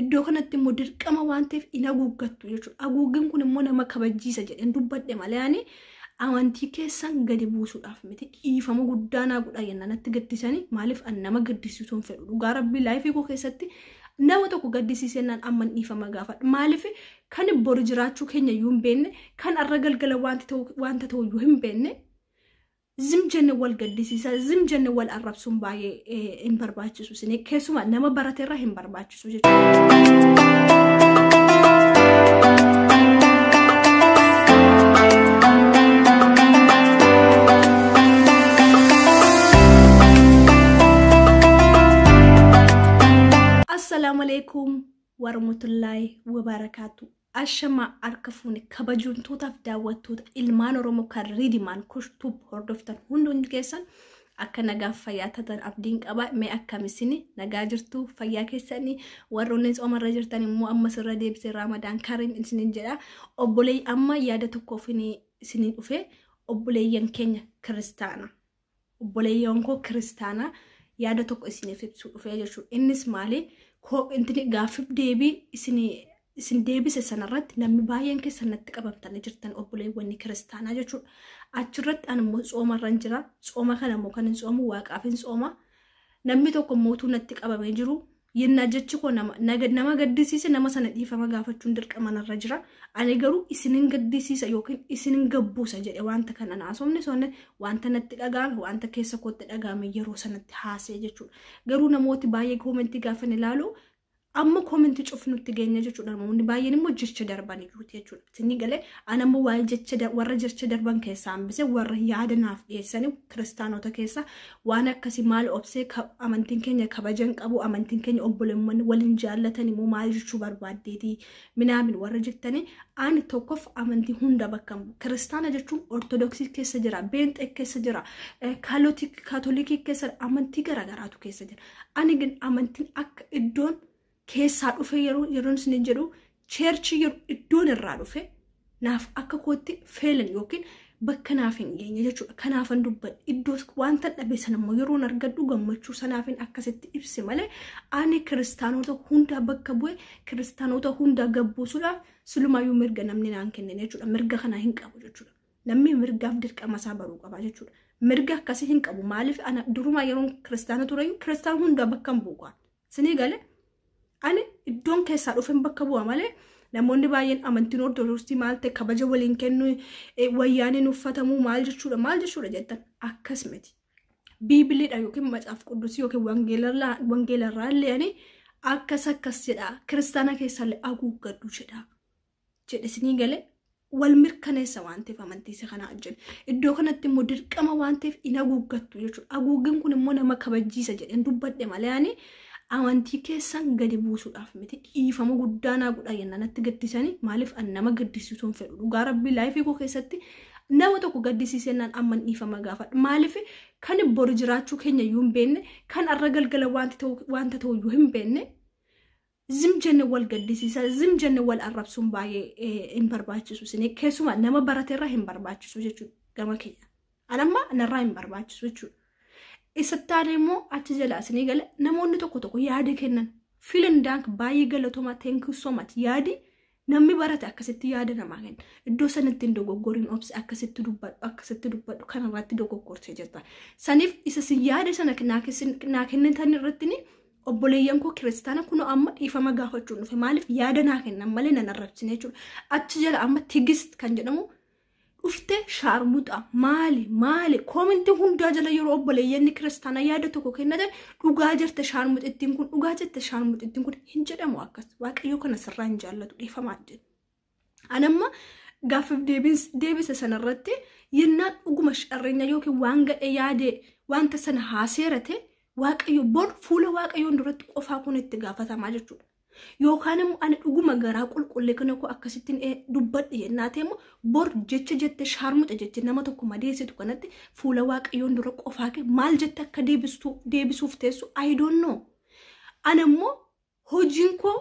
Iddoo kanatti immoo dirqama waan ta'eef hin haguuggattu jechuudha. Haguuggin kun immoo nama kabachiisa jedheen dubbadhe malee ani amantii keessan gadi buusuudhaaf miti dhiifama guddaa naa godhaa jennaan natti gaddisanii maaliif an nama gaddisiisuu hin fedhu dhugaa rabbii laayifii koo keessatti nama tokko gaddisiisee naan amman dhiifama gaafadha maaliif kan bori jiraachuu keenya iyyuu hin beekne kan arra galgala wanta ta'u iyyuu hin beekne zim jenne wal gaddisiisa zim jenne wal arrabsuun baay'ee hin barbaachisu isin keessumaa nama barate irra hin barbaachisu jechuudha. Assalaamu alaikum warahmatullaahi wabarakaatu. Ashamaa harka fuune kabajamtootaaf daawwattoota ilmaan Oromoo kan Riidimaan Kushtuub hordoftan hundi hundi keessan akka nagaaf fayyaa tatan abdiin qaba mee akkamisini nagaa jirtu fayyaa keessanii warroonni soomarra jirtan immoo ammas irra deebisee raamadaan kariim isinin jedha obboleeyyi amma yaada tokkoof isinin dhufe obboleeyyan keenya kiristaana Obboleeyyoon koo kiristaanaa yaada tokko isiniif ibsuu dhufee jechuudha. Innis maali? Koo intini gaaffiif deebii isinii isin deebise sanarratti namni baay'een keessan natti qabamtanii jirtan obboleewwanni kiristaanaa jechuudha. Achirratti ani immoo tsoomarran jira. Tsooma kana immoo kan hin tsoomu waaqaaf hin tsooma. Namni tokko mootuu natti qabamee jiru yennaa jechi koo nama na gad- nama gaddisiise nama sana dhiifama gaafachuun dirqama narra jira ani garuu isinin gaddisiisa yookiin isinin gabbuusa jedhe wanta kana na haasofne sonne wanta natti dhaga'ame wanta keessa kootti dhaga'ame yeroo sanatti haasa'e jechuudha garuu namooti baay'ee koomentii gaafan ilaalu amma koomentii cufnutti geenya jechuudha namoonni baay'een immoo jecha darbanii jiruuti jechuudha Sinni galee an ammoo waa'ee jecha da- warra jecha darban keessaa hambise warra yaada naaf dhiyeessanii kiristaanota keessa waan akkasii maal obsee ka- amantiin keenya kabajan qabu amantiin keenya obboleewwan waliin jaallatanii moo maal jechuu barbaaddeetii minaamin warra jettanii ani tokkof amantii hunda bakka hin bu'u. kiristaana jechuun ortodoksii keessa jira beenxee keessa jira eh, kaalotik- kaatolikii keessa amantii garaagaraatu keessa jira ani gin amantiin akka iddoon keessaa dhufee yeroo yeroon isiniin jedhu cheerchii yeroo iddoon irraa dhufe naaf akka kootti feelan yookiin bakka naaf hin geenye jechuudha. Kanaafan dubbadhe iddoos wanta dhabe sana immoo yeroon argadhu gammachuu sanaafin akkasitti ibse malee ani kiristaanota hundaa bakka bu'e kiristaanota hundaa gabbuusuudhaaf silumaayyuu mirga namni naan kennine jechuudha. Mirga kana hin qabu jechuudha. Namni mirgaaf dirqama isaa baruu qaba jechuudha. Mirga akkasii hin qabu maaliif ana durumaa yeroon kiristaana tureyyuu kiristaan hundaa bakka hin bu'u. Sinii gale ani iddoon keessaa dhufen bakka bu'a malee namoonni baay'een amantiin ortodoksii maal ta'e kabaja waliin kennu eh, wayyaaniin uffatamuu maal jechuudha maal jechuudha jettan akkas miti. Biibiliidha yookiin macaaf quddusii yookiin wangeelarraa- wangeelarraa illee ani akkas akkas jedha kiristaana keessallee haguuggadhu jedha. jedhe isinii gale wal mirkaneessa waan ta'eef amantiisa kana ajjani. Iddoo kanatti immoo dirqama waan ta'eef hin haguuggattu jechuudha. Haguuggin kun immoo nama kabajiisa jedheen dubbadhe malee ani amantii keessan gadi buusuudhaaf miti dhiifama guddaa naa godha yennaa natti gaddisanii maaliif an nama gaddisiisuu hin fedhu dhugaa rabbii laayifii koo keessatti nama tokko gaddisiisennaan amman dhiifama gaafadha maaliif kan bori jiraachuu keenya iyyuu hin beekne kan arra galgala wanta ta'u iyyuu hin beekne zim jenne wal gaddisiisa zim jenne wal arrabsuun baay'ee hin barbaachisu isin keessumaa nama barate irraa hin barbaachisu jechuudha gama keenya anamma narraa hin barbaachisu jechuudha isa taane immoo achi jala isinii gala namoonni tokko tokko yaada kennan filan daank baay'ee galatomaa thank you so much yaadi Namni barate akkasitti yaada namaa kenna. Iddoo sanatti hin dogoggoriin obsi akkasitti dubbadhu akkasitti dubbadhu kanarratti dogoggortee jirta. Saniif isa sin yaada sana naa kessin- naa kennitan irratti ni obboleeyyan koo kiristaana kun amma dhiifama gaafachuun dhufe maaliif yaada naa kennan malee nan arrabsine jechuudha. Achi jala amma tigist kan jedhamu dhufte shaarmuxa maali maali koominti hundaa jala yeroo obboleeyyanni kiristaanaa yaada tokko kennatan dhugaa jirte shaarmuxittiin kun dhugaa jirte shaarmuxittiin kun hin jedhamu akkas waaqayyoo kana sirraa hin jaallatu dhiifamaa jedhu. Anamma gaaffiif deebisa sanarratti yennaa dhuguma sharreenya yookiin waan gadhee yaadee wanta sana haaseerate waaqayyo bor fuula waaqayyoon duratti qofaa kun itti gaafatamaa jechuudha. Yookaan immoo ani dhuguma garaa qulqulle kana koo akkasittiin ee dubbadhe jennaatee immoo bor jecha jette shaarmuxa jette nama tokko madeessitu kanatti fuula waaqayyoon dura qofaa kee maal jette akka deebistu deebisuuf teessu I don't know. Ana immoo hojiin koo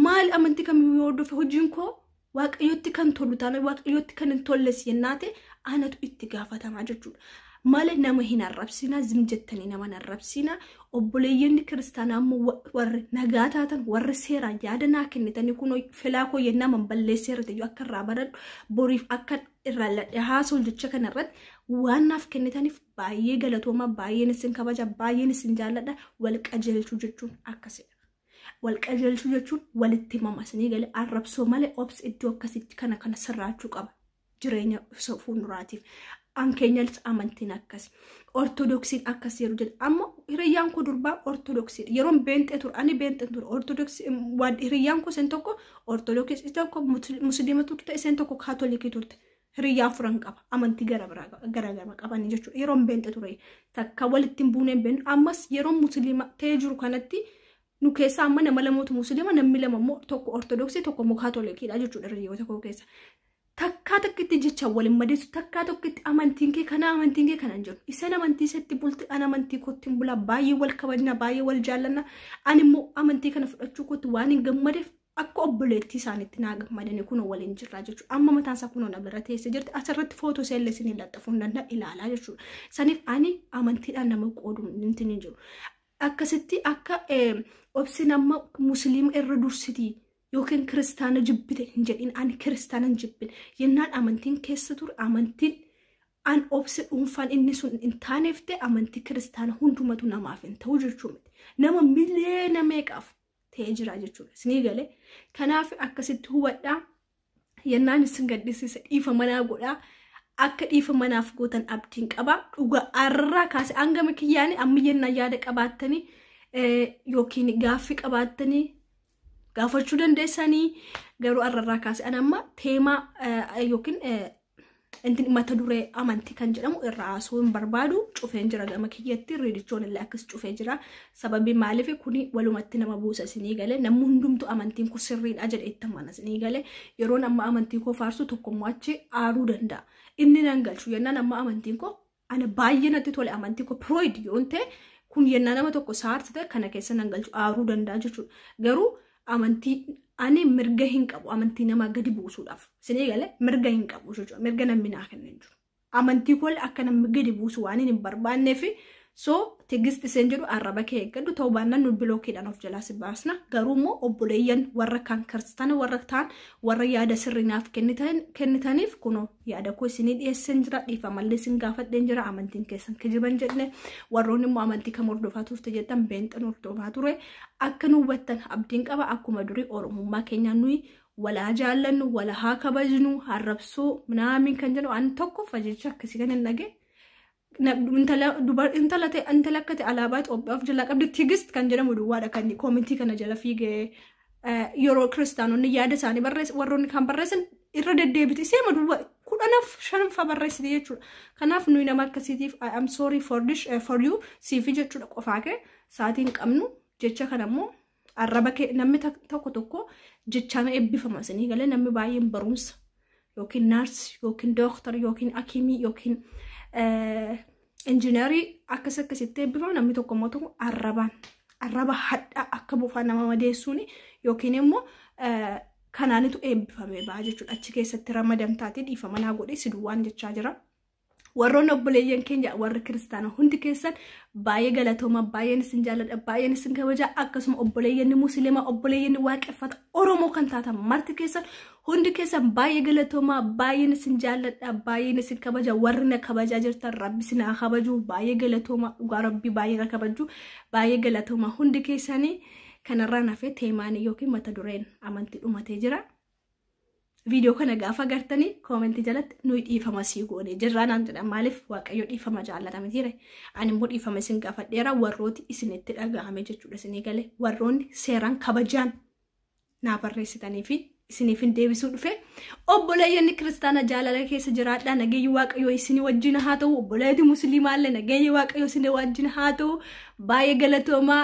maal amantii kamiyyuu yoo hordofe hojiin koo Waaqayyotti kan tolu taana waaqayyotti kan hin tolles yennaa ta'e anatu itti gaafatamaa jechuudha. Malee nama hin arrabsiina, zim jettanii nama hin arrabsiina. Obboleeyyanni kiristaanaa immoo wa- warri nagaa taatan, warri seeraan yaada naa kennitanii kunoo filaa koo yennaa man balleessee irratti iyyuu akka irraa baradhu, boriif akka irraa ladhe haasa'u jecha kana irratti waan naaf kennitaniif baay'ee galatoomaa, baay'een isin kabaja, baay'een isin jaalladha, wal qajeelchuu jechuun akkasidha. wal qajeelchuu jechuun walitti himama isinii gale arrabsoo malee obsi iddoo akkasitti kana kana sirraachuu qaba jireenya ibsa fuulduraatiif an keenyas amantiin akkas ortodoksiin akkas yeroo jedhu amma hiriyyaan koo durbaa ortodoksii yeroon beenxee ture ani beenxee ture ortodoksii waan hiriyyaan koo isheen tokko ortodoksii tokko musliima turte isheen tokko kaatolikii turte Hiriyyaa afuran qaba. Amantii gara biraa qaba- gara gara qabanii jechuudha. Yeroon beenxe ture takka walitti hin buuneen beennu. Ammas yeroo musliima ta'ee jiru kanatti nu keessaa amma nama lamatu musliima namni lama immoo tokko ortodoksii tokko immoo kaatolikiidha jechuudha hiriyyoota koo keessa. Takkaa takkitti jecha waliin madeessu takkaa tokkitti amantiin kee kana amantiin kee kana hin jedhu. Isaan amantii isatti bulti an amantii kootti hin bulaa baay'ee wal kabajna baay'ee wal jaallanna. Ani immoo amantii kana fudhachuu kootti waan hin gammadeef akka obboleettii isaaniitti naa gammadanii kunoo waliin jirraa jechuudha. Amma mataan isaa kunoo na bira teessee jirti. Asirratti footoo ishee illee isin laxxafuu hin danda'a ilaalaa jechuudha. Saniif ani amantiidhaan nama qoodu nuti hin jiru. Akkasitti akka obsin amma musliima irra dursitii yookiin kiristaana jibbite hin jedhin ani kiristaana hin jibbin. Yennaan amantiin keessa ture amantiin an obsi dhuunfaan inni sun hin taaneefte amantii kiristaana hundumatu namaaf hin ta'u jechuu miti. Nama miliyoona meeqaaf ta'ee jira jechuudha. Isinii gale. Kanaaf akkasitti hubadhaa. Yennaan isin gaddisiise dhiifa manaa godhaa. Akka dhiifa manaaf gootan abdiin qaba. Dhuga arraa kaase hangama kiyyaanii amma yennaan yaada qabaattanii yookiin gaaffii qabaattanii gaafachuu dandeessanii garuu arrarraa kaase an amma teemaa yookiin intin mata duree amantii kan jedhamu irra haasuu hin barbaadu cufeen jira gama kiyyatti riidichoon illee akkas cufee jira sababii maaliif kuni walumatti nama buusa isinii galee namni hundumtu amantiin kun sirriidha jedhe itti amana isinii galee yeroon amma amantii koo faarsu tokkommoo achi aaruu danda'a inni nan galchu yennaan amma amantiin koo Ana baay'ee natti tole amantii koo pirooyid yoon ta'e kun yennaa nama tokko saarti ta'e kana keessa nan galchu aaruu danda'a jechuudha. Garuu amantii ani mirga hin qabu amantii namaa gadi buusuudhaaf isinii galee mirga hin qabu jechuudha. Mirga namni naa kenna hin jiru. Amantii koo akka namni gadi buusu waan hin barbaannee fi so tigisti seen jedhu arraba kee eeggadhu ta'uu baannaan nu bilookiidhaan of jalaa si baasna. Garuu immoo obboleeyyan warra kaan kiristaana warra ta'an warra yaada sirrii naaf kennitaniif kunoo yaada koo isinii dhiyeesseen jira dhiifamallee isin gaafadheen jira amantiin keessan kijiban jedhne warroonni immoo amantii kam hordofaa turte jedhan beenxan hordofaa ture akka nu hubattan abdiin qaba akkuma durii oromummaa keenya nuyi walaa jaallannu wala haa kabajnu harrabsuu minaamin kan jedhu an tokkoffa jecha akkasii kan hin dhage na- intala dubar- intala ta'e- intala akka ta'e alaabaa Itoophiyaa of jalaa qabdi tigist kan jedhamu duwwaadha kan inni koomentii kana jala fiigee eh, yeroo kiristaanonni yaada isaanii barreessan warroonni kan barreessan irra deddeebiti seema duwwa kudhanaf shanfa barreessite jechuudha kanaaf nuyi nama akkasiitiif I am sorry for this eh, for you siifi jechuudha qofaa kee saatiin qabnu jecha kana immoo Arraba kee namni tak- tokko tokko jechaan eebbifama isinii galee namni baay'een barumsa yookiin naarsi yookiin dooktar yookiin akimii yookiin eh, injiinarii akkas akkasitti eebbifama namni tokko immoo tokko arrabaan arraba hadhaa akka bofaa nama madeessuun yookiin immoo eh, kanaanitu eebbifame ba'a jechuudha achi keessatti ramadamtaati dhiifama naa godhee si duwwaan jechaa jira. Warroonni obboleeyyan keenya warri kiristaana hundi keessan baay'ee galatooma baay'een isin jaalladha baay'een isin kabaja akkasuma obboleeyyanni musliima obboleeyyanni waaqeffata oromoo kan taatan marti keessan hundi keessan baay'ee galatooma baay'een isin jaalladha baay'een isin kabaja warri na kabajaa jirtan rabbi isin haa kabaju baay'ee galatooma dhugaa rabbi baay'ee na kabaju baay'ee galatooma hundi keessanii kanarraa nafee teemaanii yookiin mata dureen amantii dhumatee jira. viidiyoo kana gaafa gartanii koomentii jalatti nuyi dhiifama sii goone jirraa naan jedhan maaliif waaqayyo dhiifama jaallata mitiire ani immoo dhiifama isin gaafadheera warrooti isinitti dhaga'ame jechuudha isinii galee warroonni seeraan kabajaan naa barreessitanii fi isiniif hin deebisuu dhufe obboleeyyonni kiristaana jaalala keessa jiraadhaa nageenyi waaqayyoo isinii wajjin haa ta'u obboleetti musliimaallee nageenyi waaqayyoo isinii wajjin haa ta'u baay'ee galatoomaa